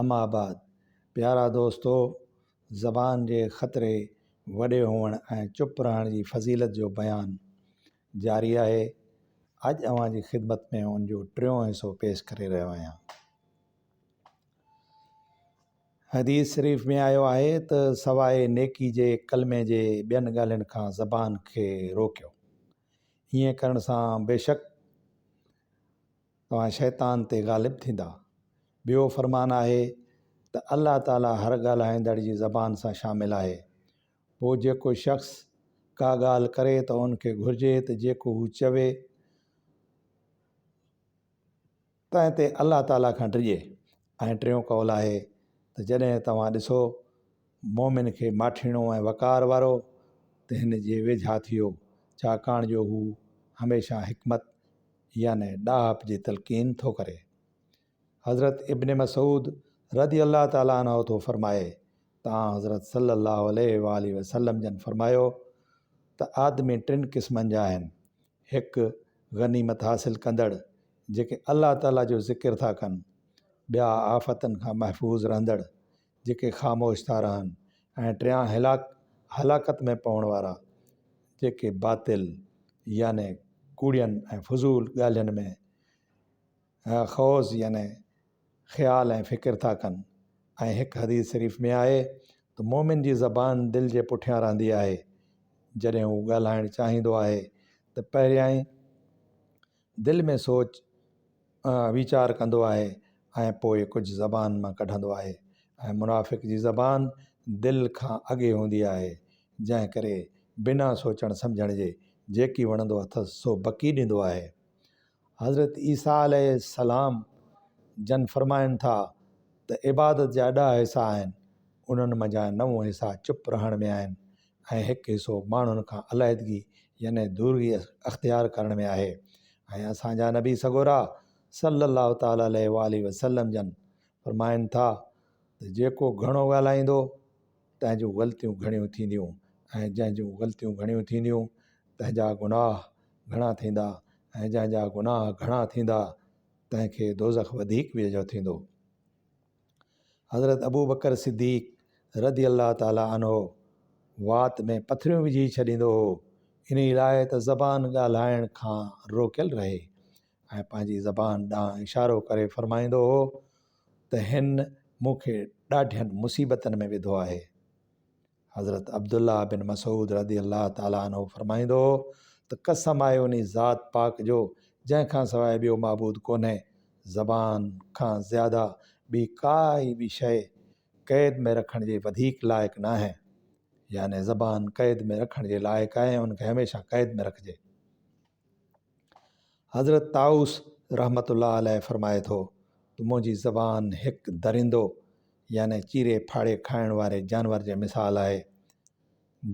اما آباد، پيارا دوستو! زبان جي خطري، وڏي هئڻ ۽ چپ رهڻ جي فضيلت جو بيان جاري آهي. اڄ اوهان جي خدمت ۾ ان جو ٽيون حصو پيش ڪري رهيو آهيان. حديث شريف ۾ آيو آهي ته سواء نيڪي جي ڪلمي جي ٻين ڳالهين کان زبان کي روڪيو. ائين ڪرڻ سان بيشڪ توهان شيطان تي غالب ٿيندا. ٻيو فرمان آهي ته الله تعالي هر ڳالهائيندڙ جي زبان سان شامل آهي. پوء جيڪو شخص ڪا ڳالهه ڪري ته ان کي گهرجي ته جيڪو هو چوي تنهن تي الله تعالي کان ڊڄي ۽ ٽيون قول آهي ته جڏهن توهان ڏسو مؤمن کي ماٺيڻو ۽ وقار وارو ته هن جي ويجها ٿيو ڇاڪاڻ جو هو هميشه حڪمت يعني ڏاهپ جي تلقين ٿو ڪري. حضرت ابن مسعود رضي الله تعالٰي عنه ٿو فرمائي ته آنحضرت صلّي الله عليه واٰله وسلّم جن فرمايو ته آدمي ٽن قسمن جا آهن، هڪ غنيمت حاصل ڪندڙ، جيڪي الله تعالٰي جو ذڪر ٿا ڪن، ٻيا آفتن کان محفوظ رهندڙ، جيڪي خاموش ٿا رهن ۽ ٽيان هلاڪ هلاڪت ۾ پوڻ وارا جيڪي باطل يعني ڪوڙين ۽ فضول ڳالهين ۾ خوض يعني خيال ۽ فڪر ٿا ڪن ۽ هڪ حديث شريف ۾ آهي ته مومن جي زبان دل جي پٺيان رهندي آهي جڏهن هو ڳالهائڻ چاهيندو آهي ته پهريائين دل ۾ سوچ ويچار ڪندو آهي ۽ پوء ڪجهه زبان مان ڪڍندو آهي ۽ منافق جي زبان دل کان اڳي هوندي آهي جنهن ڪري بنا سوچڻ سمجهڻ جي جيڪي وڻندو اٿس سو بڪي ڏيندو آهي حضرت عيسيٰ عليه السلام جن فرمائن ٿا ته عبادت جا ڏهه حصا آهن انهن منجهان نو حصا چپ رهڻ ۾ آهن ۽ هڪ حصو ماڻهن کان عليحدگي يعني دورگي اختيار ڪرڻ ۾ آهي ۽ اسان جا نبي سڳورا صلّي الله تعالٰي عليه واٰله وسلّم جن فرمائن ٿا ته جيڪو گهڻو ڳالهائيندو تنهن جون غلطيون گهڻيون ٿينديون ۽ جنهن جون غلطيون گهڻيون ٿينديون تنهن جا گناهه گهڻا ٿيندا ۽ جنهن جا گناهه گهڻا ٿيندا تنهن کي دوزخ وڌيڪ ويجهو ٿيندو حضرت ابوبڪر صديق رضي الله تعالٰي عنه وات ۾ پٿريون وجهي ڇڏيندو هو، انهي لاء ته زبان ڳالهائڻ کان روڪيل رهي ۽ پنهنجي زبان ڏانهن اشارو ڪري فرمائيندو هو ته هن مون کي ڏاڍين مصيبتن ۾ وڌو آهي. حضرت عبدالله بن مسعود رضي الله تعالٰي عنه فرمائيندو هو ته قسم آهي انهي ذات پاڪ جو جنهن کان سواء ٻيو معبود ڪونهي، زبان کان زياده ٻي ڪائي به شيء قيد ۾ رکڻ جي وڌيڪ لائق ناهي. يعني زبان قيد ۾ رکڻ جي لائق آهي ۽ ان کي هميشه قيد ۾ رکجي. حضرت طائوس رحمة الله عليه فرمائي ٿو ته منهنجي زبان هڪ درندو يعني چيري ڦاڙي کائڻ واري جانور جي مثال آهي،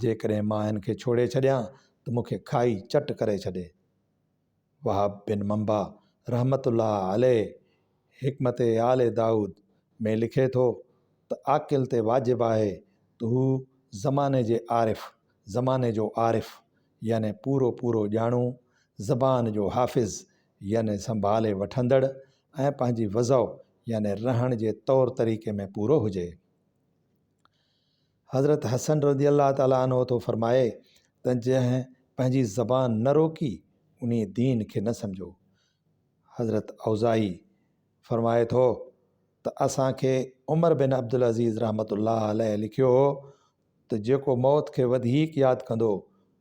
جيڪڏهن مان هن کي ڇوڙي ڇڏيان ته مون کي کائي چٽ ڪري ڇڏي. وهب بن منبع رحمة الله عليه حڪمت آل دائود ۾ لکي ٿو ته عاقل تي واجب آهي ته هو زماني جي عارف، زماني جو عارف، يعني پورو پورو ڄاڻو، زبان جو حافظ يعني سنڀالي وٺندڙ ۽ پنهنجي وضع يعني رهڻ جي طور طريقي ۾ پورو هجي. حضرت حسن رضي الله تعالٰي عنه ٿو فرمائي ته جنهن پنهنجي زبان نه روڪي انهي دين کي نه سمجهو. حضرت اوزاعي فرمائي ٿو ته اسان کي عمر بن عبدالعزيز رحمة الله عليه لکيو هو، ته جيڪو موت کي وڌيڪ ياد ڪندو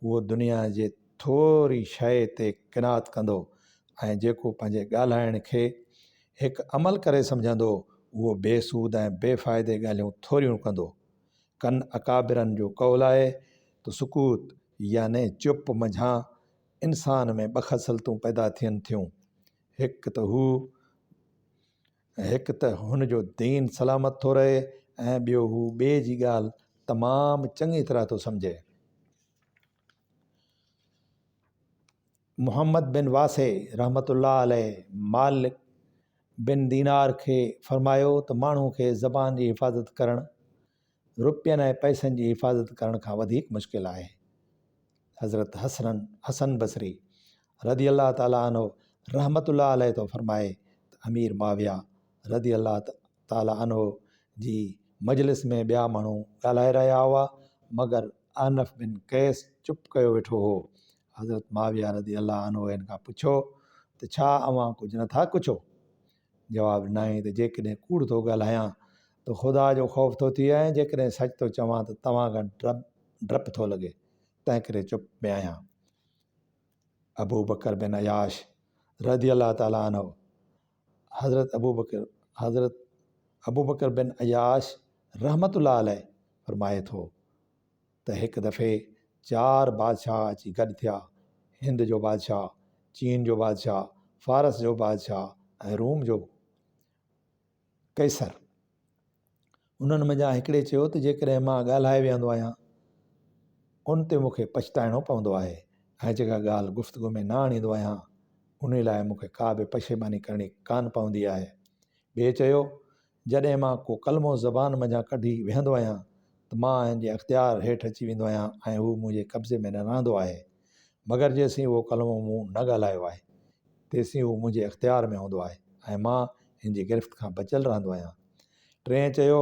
اهو دنيا جي ٿوري شيء تي قناعت ڪندو ۽ جيڪو پنهنجي ڳالهائڻ کي هڪ عمل ڪري سمجهندو اهو بي سود ۽ بي فائدي ڳالهيون ٿوريون ڪندو. ڪن اڪابرن جو قول آهي ته سڪوت يعني چپ منجهان انسان ۾ ٻه خصلتون پيدا ٿين ٿيون هڪ ته هو، هڪ ته هن جو دين سلامت ٿو رهي ۽ ٻيو هو ٻئي جي ڳالهه تمام چڱي طرح ٿو سمجهي. محمد بن واسع رحمة الله عليه مالڪ بن دينار کي فرمايو ته ماڻهو کي زبان جي حفاظت ڪرڻ روپين ۽ پئسن جي حفاظت ڪرڻ کان وڌيڪ مشڪل آهي. حضرت حسن حسن بصري رضي الله تعالٰي عنه رحمة الله عليه ٿو فرمائي ته امير معاويه رضي الله تعالٰي عنه جي مجلس ۾ ٻيا ماڻهو ڳالهائي رهيا هئا مگر احنف بن قيس چپ ڪيو ويٺو هو حضرت معاويه رضي الله عنه ان کان پڇيو ته ڇا اوهان ڪجهه نٿا ڪڇو؟ جواب، ناهي ته جيڪڏهن ڪوڙ ٿو ڳالهايان ته خدا جو خوف ٿو ٿئي ۽ جيڪڏهن سچ ٿو چوان ته توهان کان ڊپ ٿو لڳي تنهنڪري چپ ۾ آهيان. ابوبڪر بن عياش رضي الله تعالٰي عنه، حضرت ابوبڪر حضرت ابوبڪر بن عياش رحمة الله عليه فرمائي ٿو. ته هڪ دفعي چار بادشاهه اچي گڏ ٿيا، هند جو بادشاهه، چين جو بادشاهه، فارس جو بادشاهه ۽ روم جو قيصر. انهن منجهان هڪڙي چيو ته جيڪڏهن مان ڳالهائي ويهندو آهيان ان تي مون کي پڇتائڻو پوندو آهي ۽ جيڪا ڳالهه گفتگو ۾ نه آڻيندو آهيان انهي لاء مون کي ڪا به پشيماني ڪرڻي ڪانه پوندي آهي. ٻئي چيو. جڏهن مان ڪو ڪلمو زبان منجهان ڪڍي ويهندو آهيان ته مان جي اختيار هيٺ اچي ويندو آهيان ۽ هو منهنجي قبضي ۾ نه رهندو آهي مگر جيسين اهو ڪلمو مون نه ڳالهايو آهي تيسين هو منهنجي اختيار ۾ هوندو آهي ۽ مان هن جي گرفت کان بچيل رهندو آهيان ٽئين چيو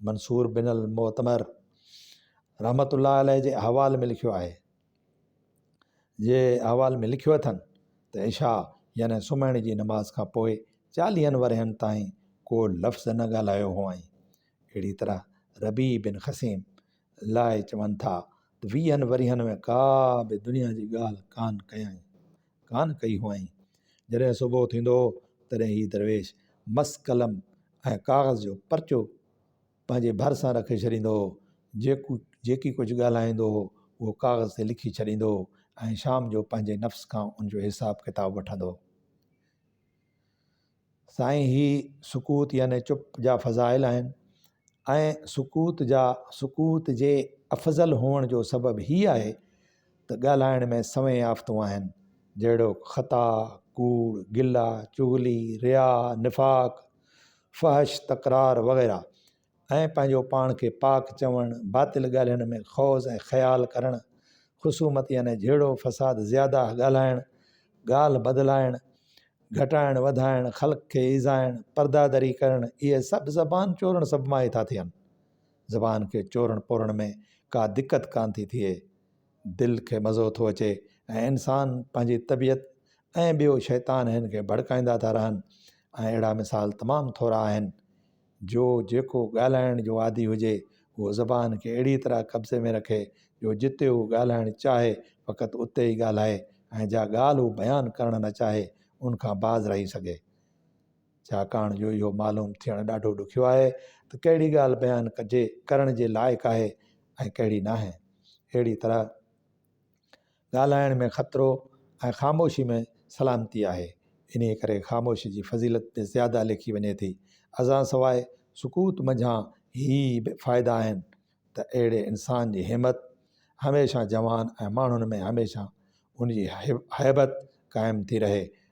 منصور بن المعتمر رحمت الله عليه جي احوال ۾ لکيو آهي جي احوال ۾ لکيو اٿن ته عشاء يعني سمهڻ جي نماز کان پوء چاليهن ورهين تائين ڪو لفظ نه ڳالهايو هئائين اهڙي طرح ربي بن خسيم لاء چون ٿا ته ويهن ورهين ۾ ڪا به دنيا جي ڳالهه ڪانه ڪيائين ڪانه ڪئي هئائين. جڏهن صبح ٿيندو هو، تڏهن هي درويش مس قلم ۽ ڪاغذ جو پرچو پنهنجي ڀرسان رکي ڇڏيندو هو. جيڪو جيڪي ڪجهه ڳالهائيندو هو، اهو ڪاغذ تي لکي ڇڏيندو هو ۽ شام جو پنهنجي نفس کان ان جو حساب ڪتاب وٺندو هو. سائين هي سڪوت يعني چپ جا فضائل آهن ۽ سڪوت جا سڪوت جي افضل هئڻ جو سبب هي آهي ته ڳالهائڻ ۾ سوين آفتون آهن جهڙوڪ خطا، ڪوڙ، گلا، چغلي، رياء، نفاق، فحش، تڪرار وغيره. ۽ پنهنجو پاڻ کي پاڪ چوڻ، باطل ڳالهين ۾ خوض ۽ خيال ڪرڻ، خصومت يعني جهيڙو، فساد، زياداه ڳالهائڻ، ڳالهه بدلائڻ، گهٽائڻ وڌائڻ، خلق کي ايذائڻ، پردادري ڪرڻ، اهي سڀ زبان چورڻ سبب مان ئي ٿا ٿين. زبان کي چورڻ پورڻ ۾ ڪا دقت ڪانه ٿي ٿئي. دل کي مزو ٿو اچي ۽ انسان، پنهنجي طبيعت ۽ ٻيو شيطان هن کي ڀڙڪائيندا ٿا رهن ۽ اهڙا مثال تمام ٿورا آهن. جو جيڪو ڳالهائڻ جو عادي هجي اهو زبان کي اهڙيء طرح قبضي ۾ رکي جو جتي هو ڳالهائڻ چاهي فقط اتي ئي ڳالهائي ۽ جا ڳالهه هو بيان ڪرڻ نه چاهي ان کان باز رهي سگهي. ڇاڪاڻ جو اهو معلوم ٿيڻ ڏاڍو ڏکيو آهي ته ڪهڙي ڳالهه بيان ڪجي ڪرڻ جي لائق آهي ۽ ڪهڙي ناهي. اهڙيء طرح ڳالهائڻ ۾ خطرو ۽ خاموشي ۾ سلامتي آهي، انهيء ڪري خاموشي جي فضيلت به زياده ليکي وڃي ٿي. ازان سواء سڪوت منجهان هي به فائدا آهن ته اهڙي انسان جي همت هميشه جوان ۽ ماڻهن ۾ هميشه ان جي هيبت قائم ٿي رهي ۽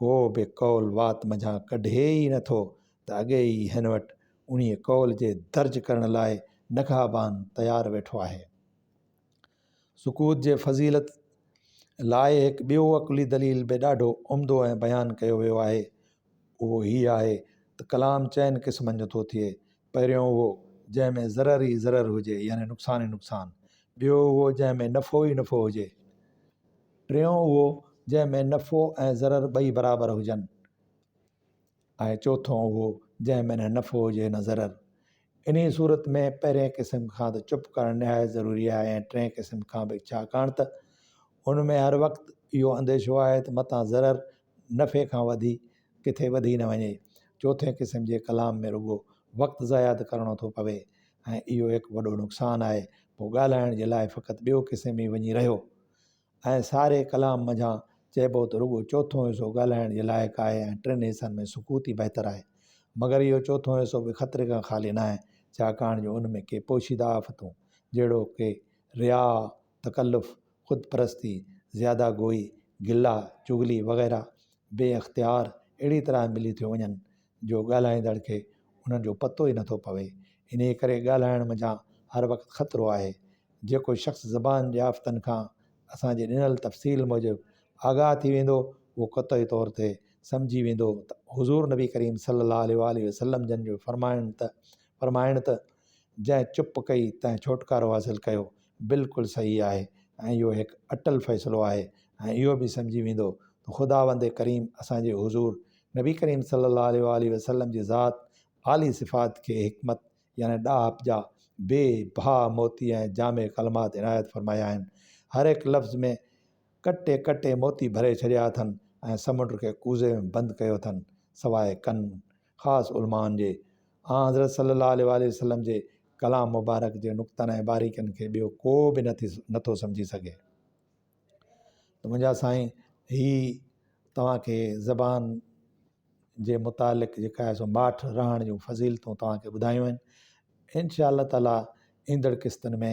ڪو به قول وات منجهان ڪڍي ئي نه ٿو ته اڳي ئي هن وٽ انهيء قول جي درج ڪرڻ لاء نگهبان تيار ويٺو آهي. سڪوت جي فضيلت لاء هڪ ٻيو عقلي دليل به ڏاڍو عمدو ۽ بيان ڪيو ويو آهي. اهو هيء آهي ته ڪلام چئن قسمن جو ٿو ٿئي، پهريون اهو جنهن ۾ ضرر ئي ضرر هجي يعني نقصان ئي نقصان، ٻيو اهو جنهن ۾ نفعو ئي نفعو هجي، ٽيون اهو جنهن ۾ نفعو ۽ ضرر ٻئي برابر هجن ۽ چوٿون اهو جنهن ۾ نه نفعو هجي نه ضرر. انهيء صورت ۾ پهرئين قسم کان ته چپ ڪرڻ نهايت ضروري آهي ۽ ٽئين قسم کان به ڇاڪاڻ ته ان ۾ هر وقت اهو انديشو آهي ته متان ضرر نفعي کان وڌي ڪٿي وڌي نه وڃي. چوٿين قسم جي ڪلام ۾ رڳو وقت ضايع ته ڪرڻو ٿو پوي ۽ اهو هڪ وڏو نقصان آهي، پوء ڳالهائڻ جي لاء فقط ٻيو قسم ئي وڃي رهيو ۽ ساري ڪلام منجهان چئبو ته رڳو چوٿون حصو ڳالهائڻ جي لائق آهي ۽ ٽن حصن ۾ سڪوت ئي بهتر آهي. مگر اهو چوٿون حصو به خطري کان خالي ناهي، ڇاڪاڻ جو ان ۾ ڪي پوشيده آفتون جهڙوڪ رياء، تڪلف، خود پرستي، زياده گوئي، گلا، چغلي وغيره بي اختيار اهڙي طرح ملي ٿيون وڃن جو ڳالهائيندڙ کي انهن جو پتو ئي نٿو پوي. انهيء ڪري ڳالهائڻ منجهان هر وقت خطرو آهي. جيڪو شخص زبان جي آفتن کان اسان جي ڏنل تفصيل موجب آگاهه ٿي ويندو اهو قطعي طور تي سمجهي ويندو ته حضور نبي ڪريم صلّي اللّٰه عليه واٰله وسلّم جن جو فرمائڻ ته فرمائڻ ته جنهن چپ ڪئي تنهن ڇوٽڪارو حاصل ڪيو بلڪل صحيح آهي ۽ اهو هڪ اٽل فيصلو آهي ۽ اهو به سمجهي ويندو ته خداوند ڪريم اسان جي حضور نبي ڪريم صلّي الله عليه واٰله وسلّم جي ذات عالي صفات کي حڪمت يعني ڏاهپ جا بي بها موتي ۽ جامع ڪلمات عنايت فرمايا آهن هر هڪ لفظ ۾ ڪٽي ڪٽي موتي ڀري ڇڏيا اٿن ۽ سمنڊ کي ڪوزي ۾ بند ڪيو اٿن سواء ڪن خاص علمائن جي آن حضرت صلّي اللّٰه عليه واٰله وسلّم جي ڪلام مبارڪ جي نقطن ۽ باريڪين کي ٻيو ڪو به نه ٿي نٿو سمجهي سگهي ته منهنجا سائين هي توهان کي زبان جي متعلق جيڪا آهي سو ماٺ رهڻ جون فضيلتون توهان کي ٻڌايون آهن انشاء الله تعالٰي ايندڙ قسطن ۾